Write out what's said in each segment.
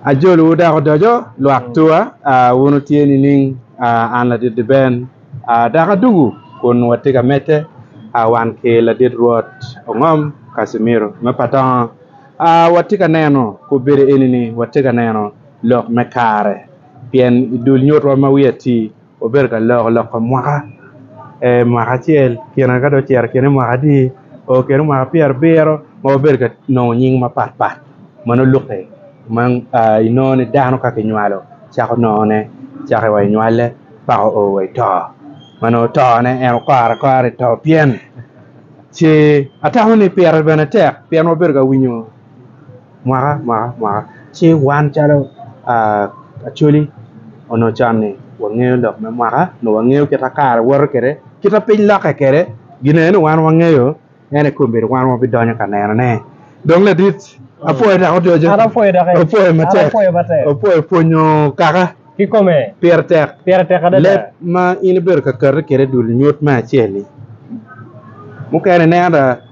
Ajolowu dok odoco, lwak tua, wun wutye nining? An ladit Liben, dok adwogo kun watye ka medde wan ki ladit Rwot Ongom Kasimiro me Patongo. Watye ka neno, kop bedo eni ni watye ka neno lok me kare, pien i dul nyutwa ma wiye atir, Wabedo ka loko lok pa mwaka, ee mwaka acel kine ka dong ocito kine i mwaka adi oo kine mwaka pyera abiro ma wabedo ka nongo nying mapat pat ma nongo lukke ma inongo ni dano ka kinywalo cako nongo ne cake wa inywale paka oo wa ito ma nongo to ne en okore akora ito pien ce atamo ni pire bene tek pien wabedo ka winyo mwaka mwaka mwaka ci wan calo Acholi onongo con ni wangeyo lok me mwaka nyo wangeyo kit ma kare woto kwede kit ma piny lokke kwede gin eni dong wan wangeyo ento kong omyero wan wabidonyo ka nenone dong ladit apwoyo dok odoco apwoyo matek apwoyo pwonyo kaka pire tek leb ma in ibedo ka kati kwede dul nyut me acel-li mukene ineno ada.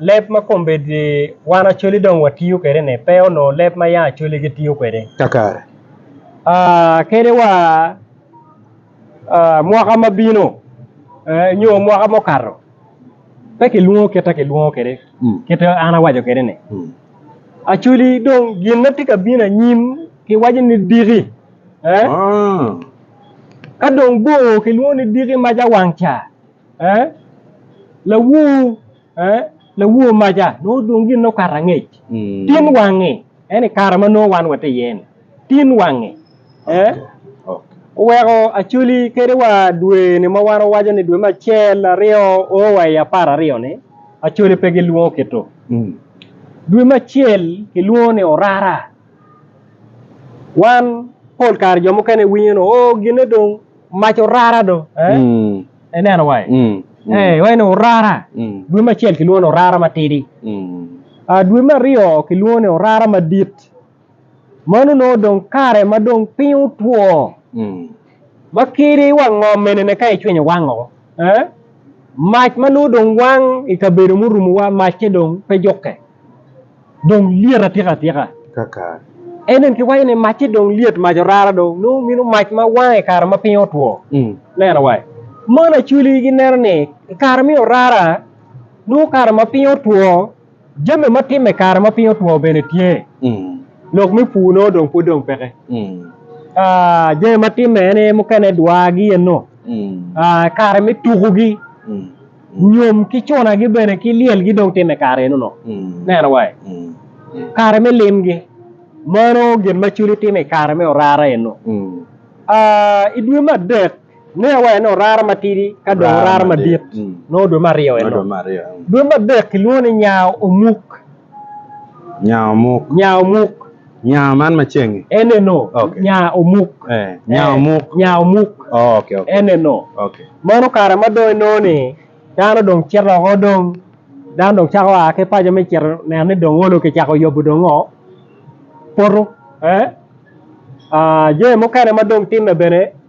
Leb ma kombeddi wan Acholi dong watiyo kwede-ni pe onongo leb ma yam Acholi gitiyo kwede. Kakare. Kadi wa mwaka ma bino nyo mwaka ma okato pe kilwongo kit ma kilwongo kwede, kit ma an awaco kwede-ni. Acholi dong gin ma tye ka bino anyim kiwaco ni diki. Ka dong bor kilwongo ni diki mac awang ca. Ee, lawor, ee, lawor maca nongo dong gin okato angec. Tin wangi, en i kare ma nongo wan watye iye ni, tin wangi. Ee, oweko Acoli kede wa dwe ni ma wan wawaco ni dwe me acel, aryo, oo wa i apar aryo ni, Acoli pe gilwongo kit-tu. Dwe me acel kilwongo ni orara. Wan pol kare jo mukene iwinyo ni, oo, ginne dong. Mac orara do ineno wa eni orara dwe ma acel kilwongo ni orara matidi dwe ma aryo kilwongo ni orara madit meno nongo dong kare ma dong piny otwo ma kidi wa ngom enene ka icwinyo wang o mac ma nongo dong wang ikabedo murumowa macce dong pe jukke. dong lyet atika atika. Kaka? En eni kiwaco ni macce dong lyet mac orara dong nongo mino mac ma wango i kare ma piny otwo. Neno wa, mon Acholi gineno ni i kare me orara nongo kare ma piny otwo, jami ma timme i kare ma piny otwo bene tye. Lok me pur nongo dong pud dong peke. Jami ma timme en aye mukene dwagi eno, kare me tukugi Nyom ki cunagi bene ki lyelgi dong timme kare enono. Neno wa i kare me limgi. Mano gin ma culi timo i kare me orara eno. I dwe me adek, neno wa ene orara matidi ka dong orara madit nongo dwe me aryo eno. Dwe me adek kilwongo ni nya omuk. Nya omuk. Nya omuk. Nya man macengi. Ene no. Okay. Nya omuk. Eh, nya eh, omuk. Nya omuk. Oh, okay, okay. Ene no. Okay. Mano kare ma dong inongo ni dano dong cito oko dong dano dong cako a ki paco me cito neno ni dong olo kicako yobo dong ngo poto. Eh? Ah, jami mukene ma dong timme bene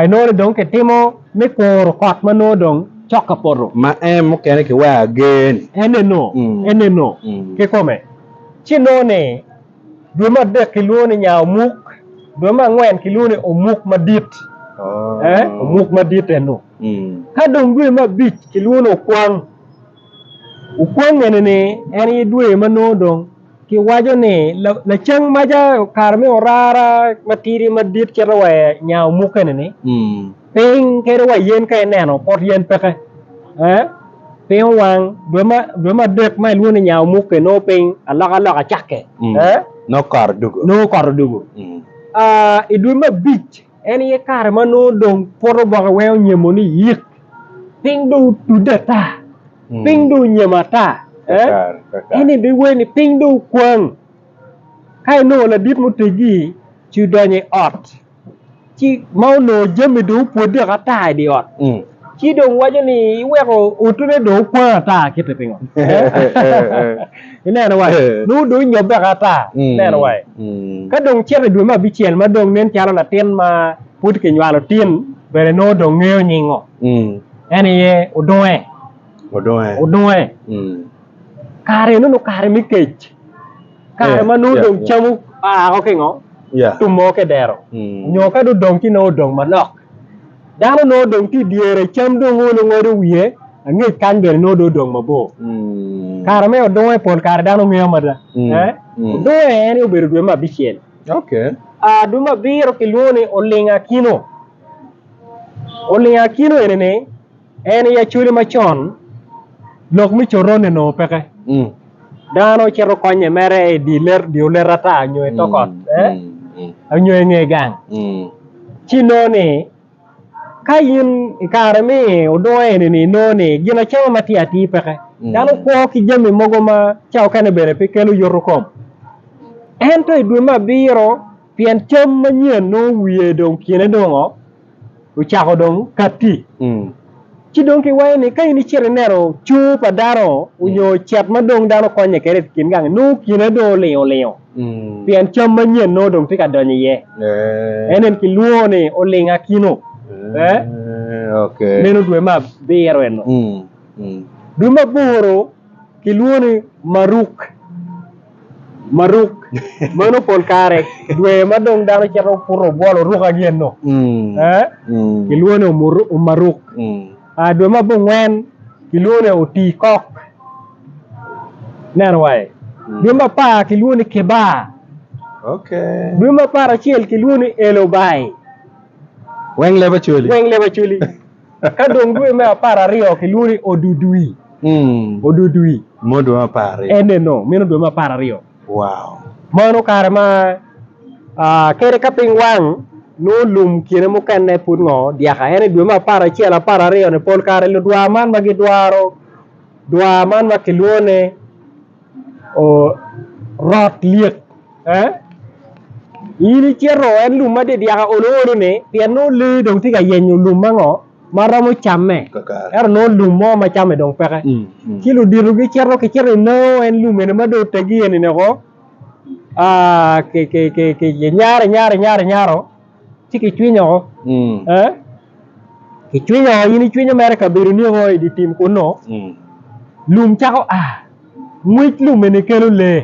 Inongo ni dong kitimo me koro kot ma nongo dong cok ka poto. Ma en mukene kiweko ager-ni. Eneno, eneno kikome. Ci inongo ni dwe me adek kilwongo ni nya omuk, dwe me angwen kilwongo ni omuk madit, omuk madit eno. Ka dong dwe me abic kilwongo ni okwang, Wukwongene ni en aye dwe ma nongo dong kiwaco ni lacang maca kare me orara matidi madit cito wa nya omukene-ni, piny kadi wa yen ka ineno pot yen peke, piny owang dwe me adek ma ilwongo ni nya omuke nongo piny alokaloka cakke, nongo kot odugo, i dwe me abic. En aye kare ma nongo dong pwot oboke weng onyemo ni yik, piny dong otudde ata, hmm. piny dong onyemo ata. Eh? En ebe wer ni piny dong okwang. Ka inongo ladit mutegi ci odonyo i ot ci ma onongo jami dong opwodde ata i di ot. Hmm. Ci dong waco ni iweko utune dong okwang ata kite pingo? Ineno wa, nongo dong inyobbeka ata. Ineno wa, ka dong cito i dwe me abicel ma dong nen calo latin ma pud kinywalo tin bene nongo dong ngeyo nyingo, en aye odunge. Odunge. Kare eno nongo kare me kec, kare ma nongo dong cam oa ki ngo? Tum mogo ki i dero, nyo ka dong odong ci nongo odong manok. Dano nongo odong tye i dyere, cam dong olo ngodo wiye, angec kany bene nongo dong odong mabor. Kare me odunge pol kare dano ngeyo mada. Odunge en aye obedo dwe me abicel. Dwe me abiro kilwongo ni Oling Akino. Oling Akino eni-ni En i Acholi macon, lok me coronne onongo peke. Dano cito konye mere i dye olet ata nyo i tok ot nyo i nge gang. Ci inongo ni ka in i kare me odungo eni inongo ni gin acama ma tye atir peke. Dano kwo ki jami mogo ma ca okene bene pe kelo yoto kom. Ento i dwe me abiro pien cam manyen nongo wiye dong kine dongo. ocako dong katti. Ci dong kiwaco ni ka in icito ineno cur pa dano onyo cet ma dong dano konye kwede i kin gang-ngi, nongo kine dong olingo olingo pien cam manyen nongo dong tye ka donyo iye. En eni kilwongo ni oling akino. Meno dwe me abiro eno. Dwe me aboro kilwongo ni Maruk. Maruk, meno pol kare dwe ma dong dano cito puto obwolo ruka gin-nu, kilwongo ni Omaruk. Dwe ma abongwen kilwongo ni Otiikok, ineno wa ye? Dwe ma apar kilwongo ni Kibar, dwe ma apar acel kilwongo ni Elobai. Weng leb Acholi. Ka dong dwe me apar aryo kilwongo ni Odudui. Odudui. Mo dwe me apar aryo. Eneno, meno dwe me apar aryo. Wow. Mano kare ma kede ka piny wang nongo lum kine mukene pud ngo dyaka. Ento i dwe me apar acel, apar aryo ni pol kare ludwar man ma gidwaro dwar man ma kilwongo ni. Orot lyet ee in icito en lum ma dyaka olo olo ni pien nongo lee dong tye ka yenyo lum ma ngo ma romo camme ento nongo lum mo ma camme dong peke ci ludito gicito kicito i nao en lum eni ma dong otegi eni woko ki nyare nyare nyare nyare. ci kicwiny oko ee kicwiny oko in icwinyo mere kabedoni oko idye tim kunnu lum cako a ngwec lum eni kelo lee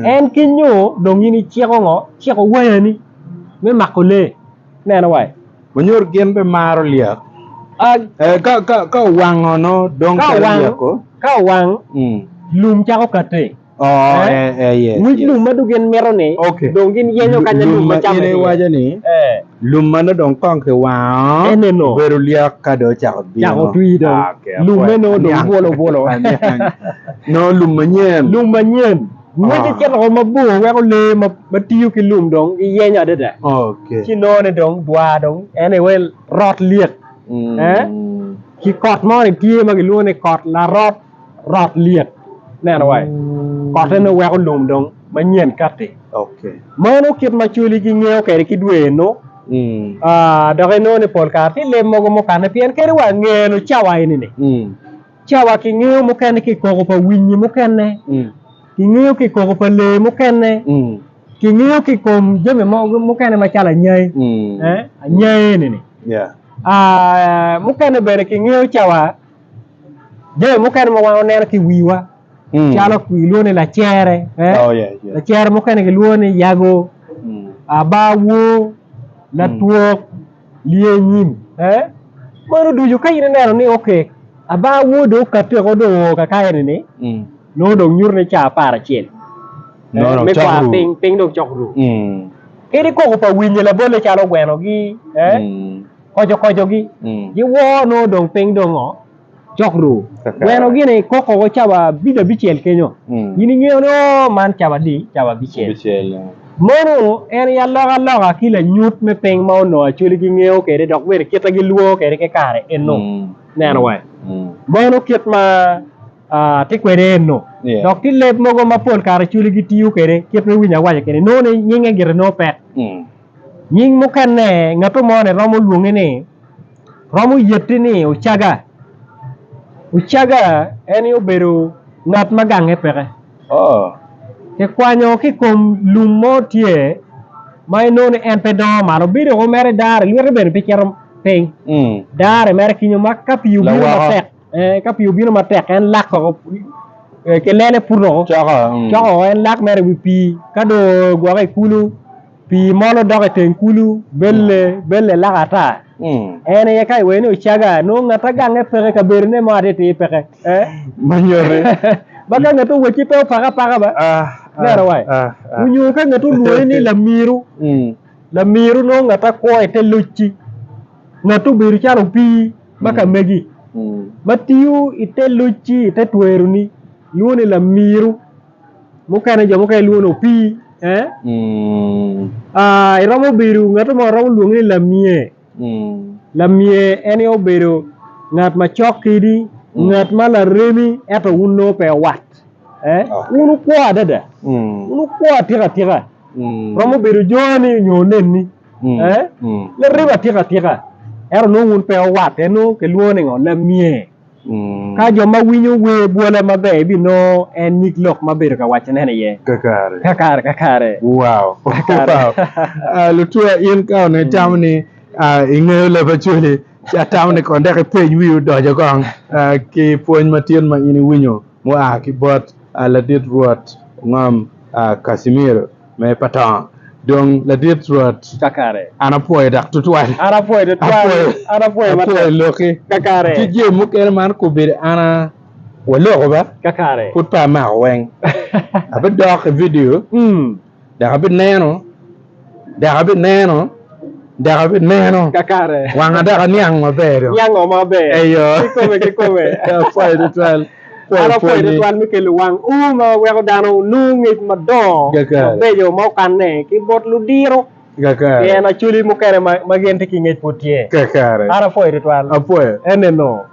en kinyo dong in iciko ngo iciko wayani me mako lee ineno wa manyor gin pe maro lyek ka owango nongo dong calo lyeko ka owang lum cako kate. Nyig lum ma dong gin mito-ni, dong gin yenyo kanya lum ma camme tye iye. Lum ma in iwaco ni lum ma nongo dong kong kiwango obedo lyek ka dong ocako bino. Cako twi dong. Lumme nongo dong bwolo bwolo. Nongo lum manyen. Lum manyen. Ngwece cito woko mabor weko lee ma tiyo ki lum dong giyenyo adada. Ci inongo ni dong dwa dong en aye rot lyek. Ki kot moni tye ma kilwongo ni kot larot. rot lyet neno wa kote nongo weko lum dong manyen kati meno kit ma coli gingeyo kwede ki dwe eno dok inongo ni pol kare tye leb mogo mukane pien kadi wa ngeno cawa eni-ni cawa kingeyo mukene ki koko pa winyi mukene kingeyo ki koko pa lee mukene kingeyo ki kom jami mogo mukene macalo anyai anyai eni-ni mukene bene kingeyo cawa Jami mukene ma wan waneno ki i wiwa calo kilwongo ni lacere, lacere mukene kilwongo ni yago, abaa wor, latwok, lyecim meno ducu ka in ineno ni abaa wor dong okati woko dong oo kaka eni nongo dong nyuto ni caa apar acel me kwar piny, piny dong cok ru kadi koko pa winyi labolle calo ogwenogi. koco kocogi giwoo nongo dong piny dong oo cok ruu weno gini koko wa cabo abid abicel kenyo in ingeyo ni oo man cabo adi cabo abicel mono en aye aloka loka ki lanyut me piny ma onongo Acholi gingeyo kwede dok bene kite gilwongo kwede ki kare eno ineno wa mono kit ma atye kwede eno dok tye leb mogo ma pol kare Acholi gitiyo kwede kit me winyo awaca keni nongo ni nyinge gire nongo pek. Nying mukene ngat mo ni romo lwongi ni romo yeti ni Ocaga. Ocaga en aye obedo ngat ma gange peke. Kikwanyo ki i kom lum mo tye ma inongo ni en pe dongo malo bino dong mere dare lwite bene pe cito piny dare mere kinyo ma ka pii obino matek ka pii obino matek en lak woko ki lele puto woko coko woko en lak mere i wi pii ka dong ogwokke i kulu. Pii molo dok i teng kulu, belle, belle laka ata. En aye ka iwene ocaga, nongo ngata gange peke, kabedone mo atiti peke. Eh? Manyote. Ma ka ngete owecci pe opake apaka ba. Nera wai. Onyo ka ngete olwongi ni lamiru, lamiru nongo ngata kwo i te locci. Ngate obedo calo opii ma ka megi, ma tiyo i te locci, i te tweroni, lwongo ni lamiru. mukene jo mukene lwongo ni opii iromo bedo ngat mo iromo lwonge ni lamye, lamye en aye obedo ngat macok kidi ngat ma laremi ento wun nongo pe wat wun wukwo adada wun wukwo atika tika romo bedo joni nyo oneni laremi atika tika ento nongo wun pe wuwatte nongo kilwongo ni ngo lamye. Ka jo ma winyo wer bwola maber ebinongo en nyig lok ma bedo ka wacone iye kakare kakare. Wow! Lutua in ka onongo itamo ni ingeyo leb Acholi ci atamo ni kong dok ipeny wii odoco kong ki pwony matin ma in iwinyo mua ki bot ladit Rwot ngom Casimiro. me pa to. Dong ladit Rwot, an apwoyo dok tutwal, apwoyo loki ki jami mukene ma an okobedo an a waloko ba, pud pe amako weng. Abidok i vidio dok abineno, dok abineno, dok abineno, wanga dok aniang maber-ri. Apwoyo tutwal. Kara pwony tutwal me kelo wang u ma weko dano onongo ngec madongo mabeco ma okanne ki bot ludiro pien acwali mukene ma gin tye ki ngec pud tye. Kara apwoyo tutwal. Apwoyo. Eneno,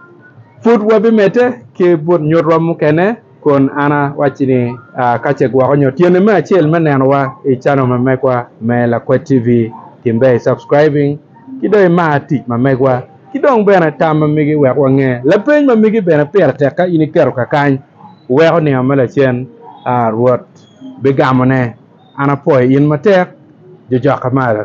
pud wabimedde ki but nyutwa mukene kun an awacci ni ka ce gwoko nyo tyene me acel me nenowa i channel ma megwa me Lakwet TV, timbe i subscribing ki dong imar tic ma megwa. Ki dong bene tam ma migi wek wange. Lapeny ma migi bene pire tek ka in iketo kakany iweko ninga me lacen, A Rwot bigamone, an apwoyo in matek, jojokka malo.